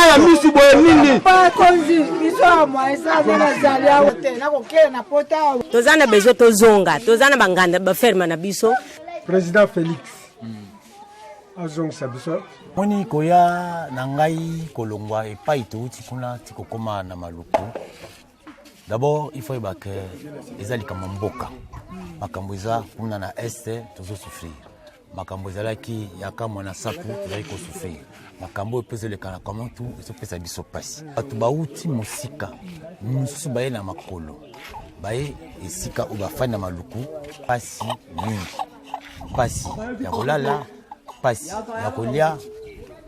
ya misi boye nini toza na besoin tozonga toza na banganda baferme na biso président félix azongisa biso moni koya na ngai kolongwa epai touti kuna tikokoma na maluku D'abord, il faut yeba que eza likambo mboka. Makambo eza kuna na est tozo souffrir. Makambo ezalaki ya kamwa na sapu tozali ko souffrir. Makambo oyo pesa lekana comment tout ezo pesa biso pasi. Bato bauti mosika mosusu baye na makolo baye esika oyo bafandi na maluku pasi mingi, pasi ya kolala, pasi ya kolia,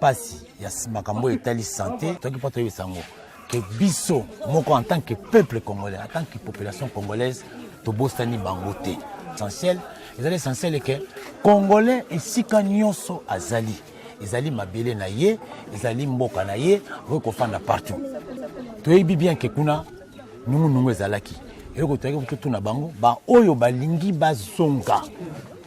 pasi ya makambo oyo etali sante toki mpo toyebisa yango que biso moko en tant que peuple congolais en tant que population congolaise tobosani bango te essentiel ezali essentiel eke congolais esika nyonso azali ezali mabele na ye ezali mboka na ye okoki kofanda partout toyebi bien ke kuna nungunungu ezalaki eloko toyaki kototuna bango baoyo balingi bazonga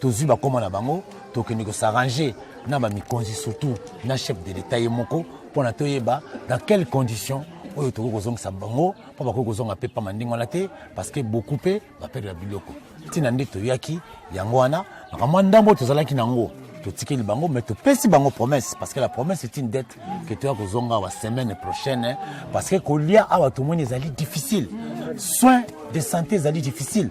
tozwi bakoma na bango tokende kosarrange na bamikonzi surtout na chef de l'etat ye moko mpo na toyeba dans quelle condition oyo tokoki kozongisa bango mpo bakoki kozonga mpe mpamba ndenge wana te parce que beaucoup mpe baperdela biloko ntina nde toyaki yango wana makambo ya ndambo tozalaki na yango totikeli bango mais topesi bango promesse parce que la promesse est une dette que toya kozonga awa semaine prochaine hein. parce que kolia awa tomoni ezali difficile soin de santé ezali difficile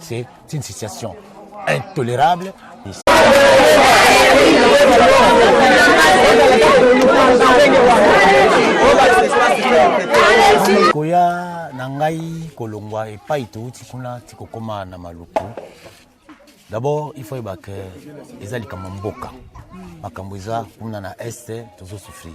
C'est une situation intolérable. koya na ngai kolongwa epai touti kuna ti kokóma na maluku d'abord il faut oyeba ke eza likambo mboka makambo eza kuna na este tozosouffrir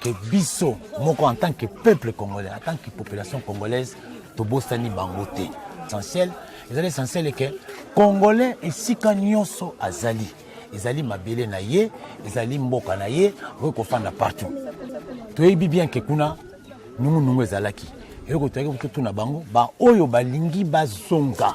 que biso moko en tant que peuple congolais en tant que population congolaise tobosani bango te essentiel ezali essentiel eke congolais esika nyonso azali ezali mabele na ye ezali mboka na ye okoki kofanda partout toyebi bien ke kuna nungunungu ezalaki eloko toyaki kototuna bango baoyo balingi bazonga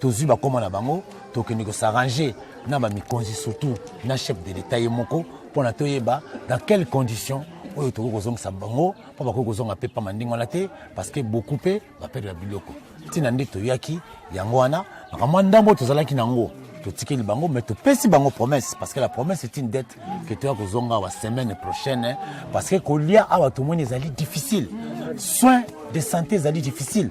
tozwi bakoma na bango tokende kosarrange na bamikonzi surtout na chef de l'etat ye moko mpo na toyeba dans quelle condition oyo tokoki kozongisa bango mpo bakoki kozonga mpe mpamba ndenge wana te parce que beaucoup mpe baperdela biloko ntina nde toyaki yango wana makambo ya ndambo tozalaki na yango totikeli bango mais topesi bango promesse parce que la promesse est une dette que toya kozonga awa semaine prochaine parce que kolia awa tomoni ezali difficile soin de santé ezali difficile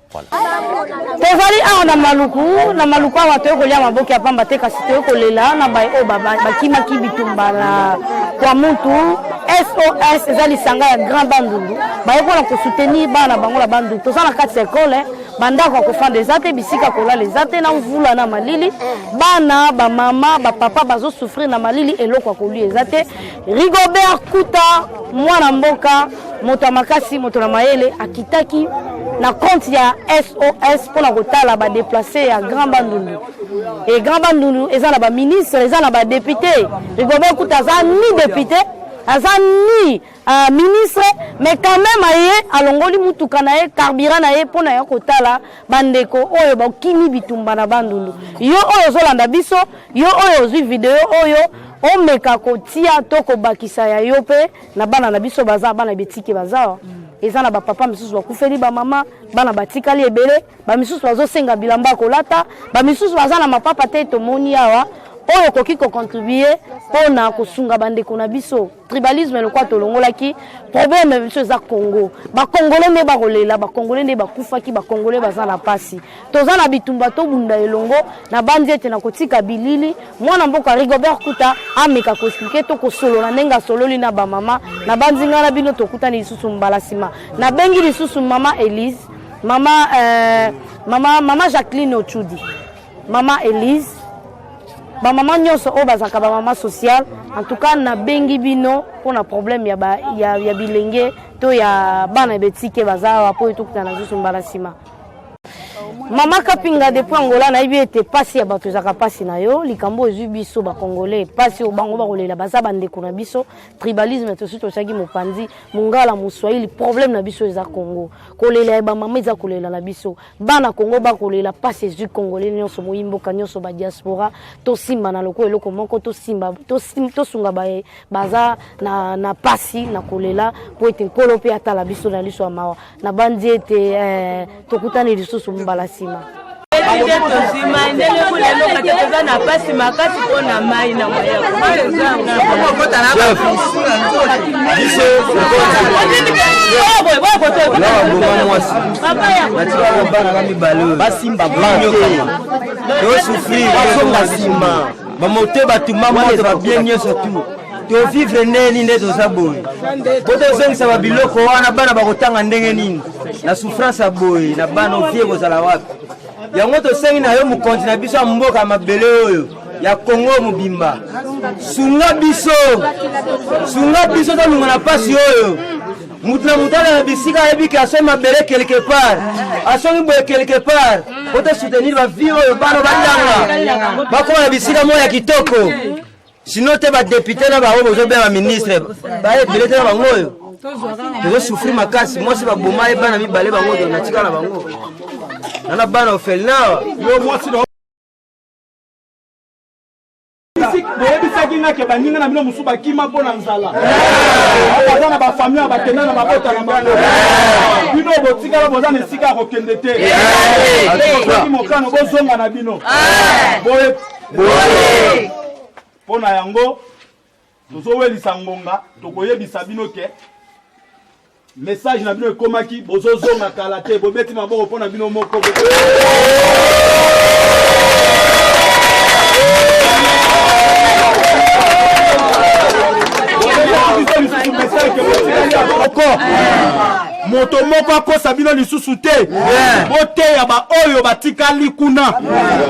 tozali awa na maluku na maluku awa toyei kolia maboke ya pamba te kasi toyei kolela na baye oyo bakimaki bitumba na kwa mutu sos eza lisanga ya grand bandundu baye mpona kosoutenir bana na bango na bandundu toza na kati ya ekole eh. bandako ya kofanda eza te bisika kolala eza te na mvula na malili bana bamama bapapa bazosouffrir na malili eloko ya kolia eza te Rigobert Kuta mwana mboka moto ya makasi moto na mayele akitaki na compte ya sos mpona kotala badeplace ya grand bandundu e grand bandundu eza na baministre eza na badepute rigobert kuta aza ni depute aza ni uh, ministre mais quand même aye alongoli motuka na ye carburant na ye mpona ya kotala Bandeko oyo bokimi bitumba na Bandundu, yo oyo ozolanda biso, yo oyo ozwi video oyo, omeka kotia to kobakisa ya yo mpe na bana na biso baza bana betike bazawa eza na bapapa misusu bakufeli bamama bana batikali ebele bamisusu bazosenga bilamba ya kolata bamisusu baza na mapapa te tomoni awa oyo okoki kocontribue mpo na kosunga bandeko na biso tribalisme lokola tolongolaki problème biso eza congo bakongole nde bakolela bakongole nde bakufaki bakongole baza na mpasi toza na bitumba tobunda elongo na bandi ete na kotika bilili mwana mboka rigobert kuta ameka koexplike to kosolola ndenge asololi na bamama na bandi ngai na bino tokutani lisusu mbala nsima nabengi lisusu mama elise mama euh, mama mama jacqueline ochudi Maman Elise, ba maman nyonso oyo bazalaka ba maman sociale, en tout cas nabengi bino mpo na problème ya, ba, ya, ya bilenge to ya bana ya betike baza awa mpo etokutana lisusu mbala nsima. Mama Kapinga depuis Angola nayebi ete pasi ya bato ezalaka pasi na yo likambo oyo ezwi biso bakongole pasi oyo bango bakolela baza bandeko na biso tribalisme tosi totyaki mopanzi mongala moswahili problème na biso eza kongo kolela ya bamama eza kolela na biso bana kongo bakolela mpasi ezwi kongole nyonso moyi mboka nyonso badiaspora tosimbana lokola eloko moko tosimba tosunga baye baza na, na pasi na kolela mpo ete nkolo mpe atala biso na liso ya mawa nabanzi ete eh, tokutani lisusu mbala nsima nde tozwi mai ndenge kulelo kati toza na mpasi makasi mpo na mai na moyaoyo natikaka bana na mibale oyo basimba banke tosufrir bazonga nsima bamote bato mamone babie nyonso tu tovivre ndenge nini nde toza boye po tozongisa babiloko wana bana bakotanga ndenge nini na souffrance ya boye na bana ovie ekozala wapi yango tosengi na yo mokonzi na biso ya mboka ya mabele oyo ya kongo mobimba sunga biso sunga biso tolunga na mpasi oyo mutu na mutu alala bisika ayebi ke asombi mabele quelque part asombi boye quelque part po to soutenir bavie oyo bana batanga bakoma na bisika moko ya kitoko sino te badepute na bango bozobenga ministre baye ebele te na bango oyo tozosouffrir makasi mwasi baboma ye bana mibale bango to natika na bango nana bana ofelinawa boyebisaki nga ke baninga na bino mosusu bakima mpo na nzala baza na bafamille ya bakenda na mabota na bango bino botikala boza na esika ya kokende te okoki mokano bozonga na bino boye mpo na yango tozowelisa ngonga tokoyebisa bino ke message na bino ekomaki bozozonga kala te bobeti maboko mpo na bino moko moko moto moko akosa bino lisusu te boteya baoyo batikali kuna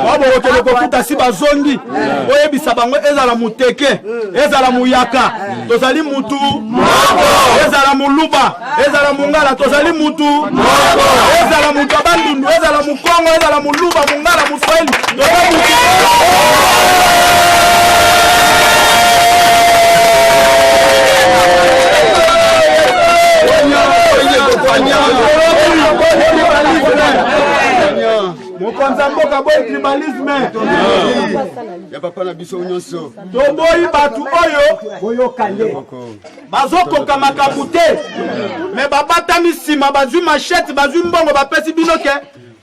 babokokende kokuta si bazongi boyebisa bango ezala moteke ezala moyaka tozali mutu ezala moluba ezala mongala tozali mutu ezala moto abandundu ezala Kongo ezala muluba, mungala, muswahili, mokonzi ya mboka boyi tribalisme ya papa na biso nyonso toboyi bato oyo boyokani bazokoka makambo te me babatami nsima bazwi mashete bazwi mbongo bapesi bino ke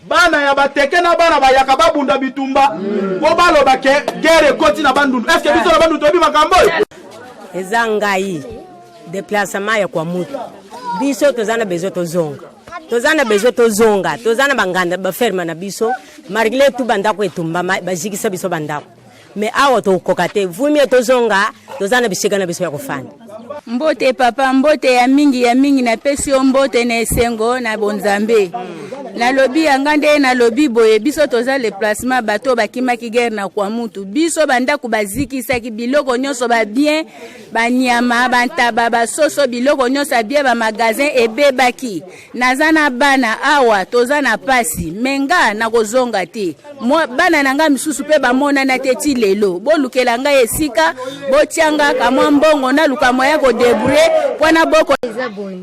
bana ya bateke na bana bayaka babunda bitumba mpo baloba ke gere ekoti na bandundu eske biso na bandundu toyebi makambo oyo eza ngai deplacement ya kwa mutu biso toza na besoin tozonga toza na besoin tozonga toza na banganda baferme na biso malgre tu bandako etumbama bazikisa biso bandako me awa tokokoka te vumie tozonga toza na bisika na biso ya kofanda mbote papa mbote ya mingi ya mingi napesi yo mbote na esengo na bonzambe nalobi yanga nde nalobi boye biso toza le placement bato bakimaki guerre na kwa mutu biso bandako bazikisaki biloko nyonso babien banyama bantaba basoso biloko nyonso ya bien bamagasin ebebaki naza na bana awa toza na pasi me nga nakozonga te bana na ngai misusu mpe bamonana te ti lelo bolukela ngai esika botyanga kamwa mbongo naluka mwa ya kodebrouye mpo na boko eza boye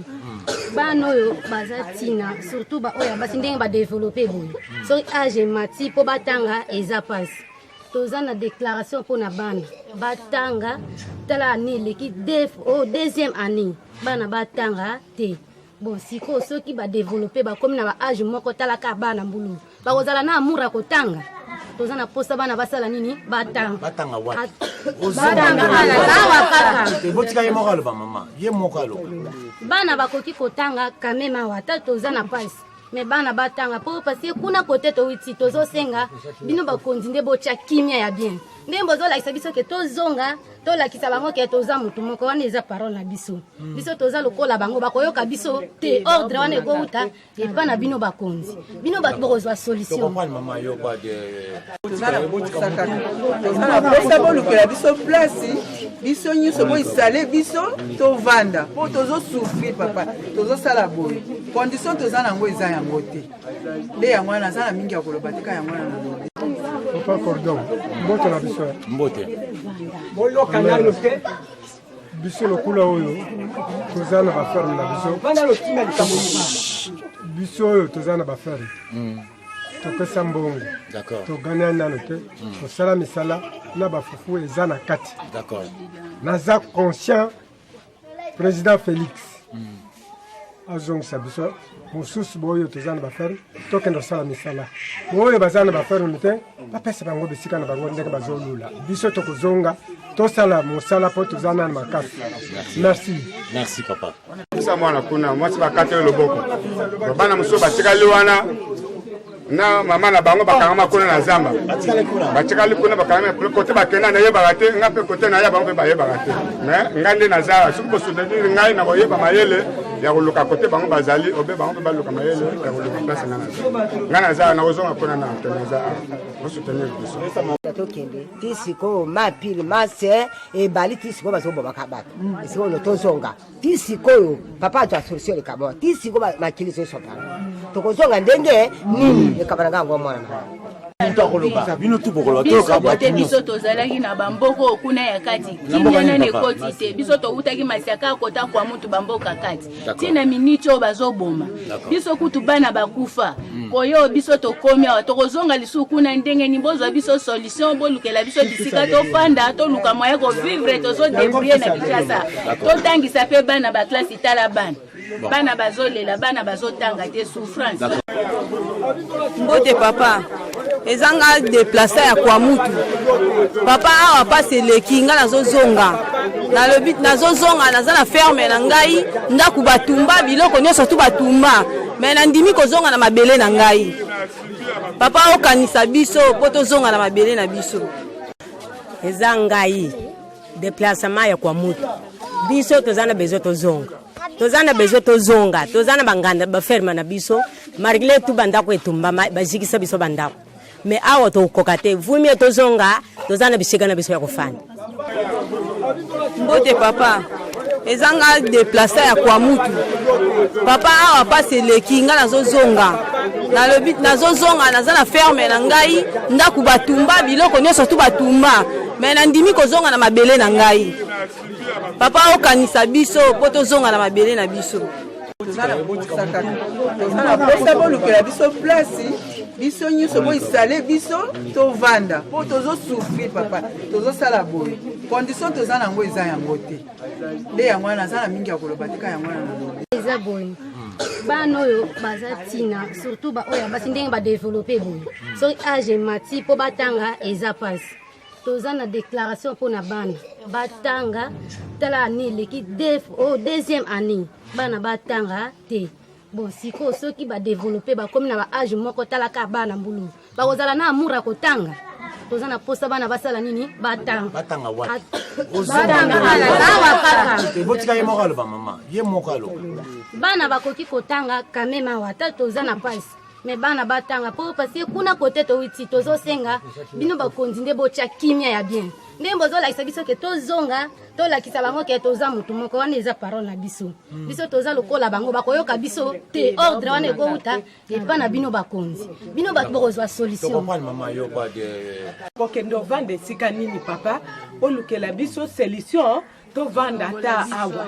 bana oyo baza ntina surtout baoyo ya basi ndenge badevelope boye soki age emati mpo batanga eza pasi toza na déclaration mpo na bana batanga tala année eleki o oh, deuxième année bana batanga te bon sikoyo soki badevelope bakomi na baage moko talaka bana mbulu bakozala na amour ya kotanga toza na posa bana basala nini batangaotika ye moko aloba mama ye moko aloba bana bakoki kotanga kameme awa ata toza na pasi me bana batanga mpo parce kuna kote towiti tozosenga bino bakonzi nde botya kimia ya bien ndenge bozolakisa biso ke tozonga tolakisa bango ke toza motu moko wana eza parole na biso hmm. biso toza lokola bango bakoyoka biso te ordre wana ekouta epa na bino bakonzi bino bato bokozwa solution toza bolukela biso place biso nyonso boisale biso tovanda mpo tozosufri papa tozosala boye condition toza na yango eza yango te nde yango wana naza na mingi ya koloba tika yango wana nalobi papa cordon mbote na biso mbote boyoka nano te biso lokola oyo toza na baferme na biso biso oyo toza na baferme hmm. topesa mbongo togania nano te hmm. tosala misala na bafufu eza na kati naza conscient President Felix mm. azongisa biso mosusu baoyo toza na baferme tokende kosala misala baoyo baza na baferme te bapesa bango bisika na bango ndenge bazolula biso tokozonga tosala mosala mpo toza nani makasi merci merci papa sa mwana kuna mwasi bakateli loboko bana mosusu batikali wana na mama na bango bakangama kuna na zamba batikali kuna bakangama kote bakenda nayebaka te nga mpe kote naye bango mpe bayebaka te me nga nde naza soki bosutenir ngai na koyeba mayele ya koluka kote bango bazali obe bango mpe baluka mayele ya koluka place nga naza nga naza nakozonga kuna na te naza bosutenir biso tokende ti sikoyo mapile mase ebali ti sikoyo bazobomaka bato sikoyo tozonga ti sikoyo papa azwa solution likambo wana ti sikoyo makili ezosopana tokozonga ndenge nini likambo na ngai yango mwana na moto akoloba bino tu bokoloba biso bote biso tozalaki na bamboko kuna ya kati kimia nani ekoti te biso towutaki masiaka akota kwa mutu bamboka kati ntina miniti oyo bazoboma biso kutu bana bakufa mm. koyo biso tokomi awa tokozonga lisusu kuna ndenge nini bozwa biso solution bolukela biso bisika tofanda toluka moye kovivre tozodebrie na kinshasa totangisa mpe bana baklasi tala bana bana bazolela bana bazotanga te souffrance mbote papa eza nga deplace ya kwa mutu papa awa pasi eleki nga nazozonga nalobi nazozonga naza na ferme na ngai ndako batumba biloko nyonso tu batumba me nandimi kozonga na mabele na ngai papa okanisa biso mpo tozonga na mabele na biso eza ngai deplacement ya kwa mutu biso toza na besoin tozonga toza na besoin tozonga toza na banganda baferme na biso Malgré tout bandako etumbama bazikisa biso bandako mais awa tokokoka te vumie tozonga toza na bisika na biso ya kofanda mbote papa eza nga deplasa ya kwa mutu papa awa mpasi eleki nga nazozonga nalobi nazozonga naza na ferme na ngai ndako batumba biloko nyonso tu batumba me nandimi kozonga na mabele na ngai papa okanisa biso mpo tozonga na mabele na biso toza na posa kaka toza na posa bolukela biso place biso nyonso boisale biso tovanda mpo tozosufri papa tozosala boye condition toza na yango eza yango te nde yango wana naza na mingi ya koloba tika yango wana nalobi eza boye bana oyo baza ntina surtout baoyo ya basi ndenge badeveloppe boye soki age emati mpo batanga eza mpasi toza na déclaration mpo na bana batanga tala année eleki o oh, deuxième année bana batanga te bon sikoyo soki badeveloppe bakomi na baage moko talaka bana mbulu bakozala na amour ya kotanga toza na posa bana basala nini batanga awa kaka bana bakoki kotanga kameme awa ata toza na pasi me bana batanga mpo paske kuna kote towiti tozosenga bino bakonzi nde botya kimia ya bien ndenge bozolakisa biso ke tozonga tolakisa bango ke toza motu moko wana eza parole na biso hmm. biso toza lokola bango bakoyoka biso te ordre wana ekouta epa na bino bakonzi bino bato bokozwa solution kokende ovanda esika nini papa olukela biso solution tovanda ata awa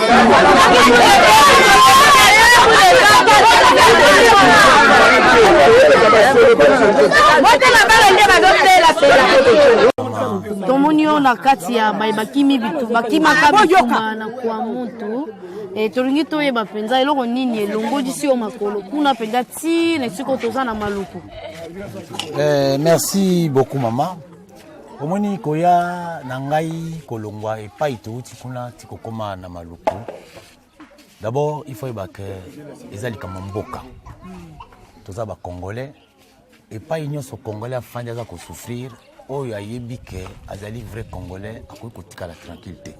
tomoni yo na kati ya baye bakimi bitu bakimaka ah, bitumba na kwa mutu e, tolingi toyeba mpenza eloko nini elongolisi yo makolo kuna mpenza ti na esiko toza na maluku eh, merci beaucoup mama omoni koya na ngai kolongwa epai touti kuna tikokoma na maluku d'abord il faut yeba ke eza likambo mboka toza bacongolais epai nyonso congolais afandi aza kosouffrir oyo ayebi ke azali vrai congolais akoki kotikala tranquille te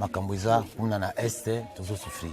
makambo eza kuna na este tozosouffrir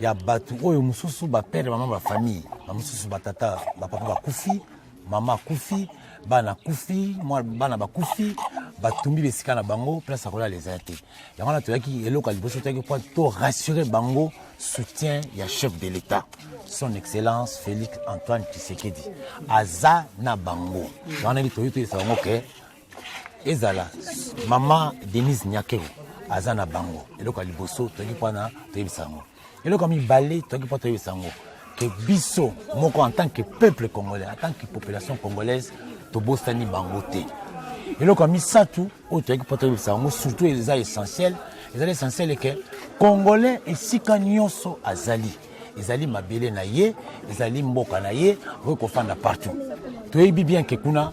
ya bato oyo mosusu bapere mama bafamille bamosusu batata bapapa bakufi mama akufi bana akufi bana bakufi batumbi bisika na bango place ya kolala eza te yango wana toyaki eloko ya liboso toyaki mpo to rassurer bango soutien ya chef de l'état son excellence félix antoine tshisekedi aza na bango yango nani toyei toyesa bango ke ezala mama denise nyakero aza na bango eloko ya liboso toyaki mpona toyebisa yango eloko ya mibale toyaki mpo toyebisa yango ke biso moko en tant que peuple congolais en tant que population congolaise tobosani bango te eloko ya misato oyo toyaki mpo toyebisa yango surtout eza essentiel ezali essentiel eke congolais esika nyonso azali ezali mabele na ye ezali mboka na ye okoki kofanda partout toyebi bien ke kuna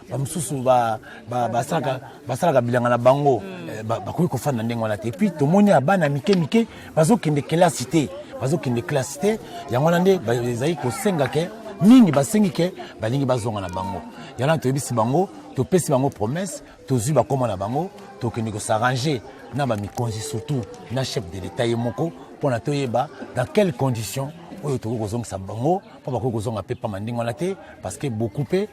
bamosusu basalaka bilanga na bango mm. eh, bakoki kofanda ndenge wana te epuis tomoni ya bana mike mike bazokende kelasi te bazokende kelasi te yango wana nde ezali kosenga ke mingi basengi ke balingi bazonga na bango yango wana toyebisi bango topesi bango promesse tozwi bakoma na bango tokende kosarrange na bamikonzi surtout na chef de l'etat ye moko mpo na toyeba dans quelle condition oyo tokoki kozongisa bango mpo bakoki kozonga mpe mpama ndenge wana te parce que beaucoup mpe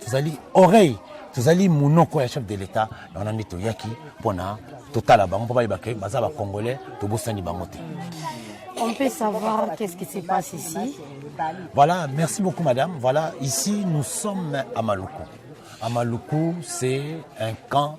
tozali oreille tozali monoko ya chef de l'etat na wana nde toyaki mpo na totala bango mpo bayeba ke baza bacongolais tobosani bango te On peut savoir qu'est-ce qui se passe ici Voilà, merci beaucoup madame. Voilà, ici nous sommes à Maluku. À Maluku, c'est un camp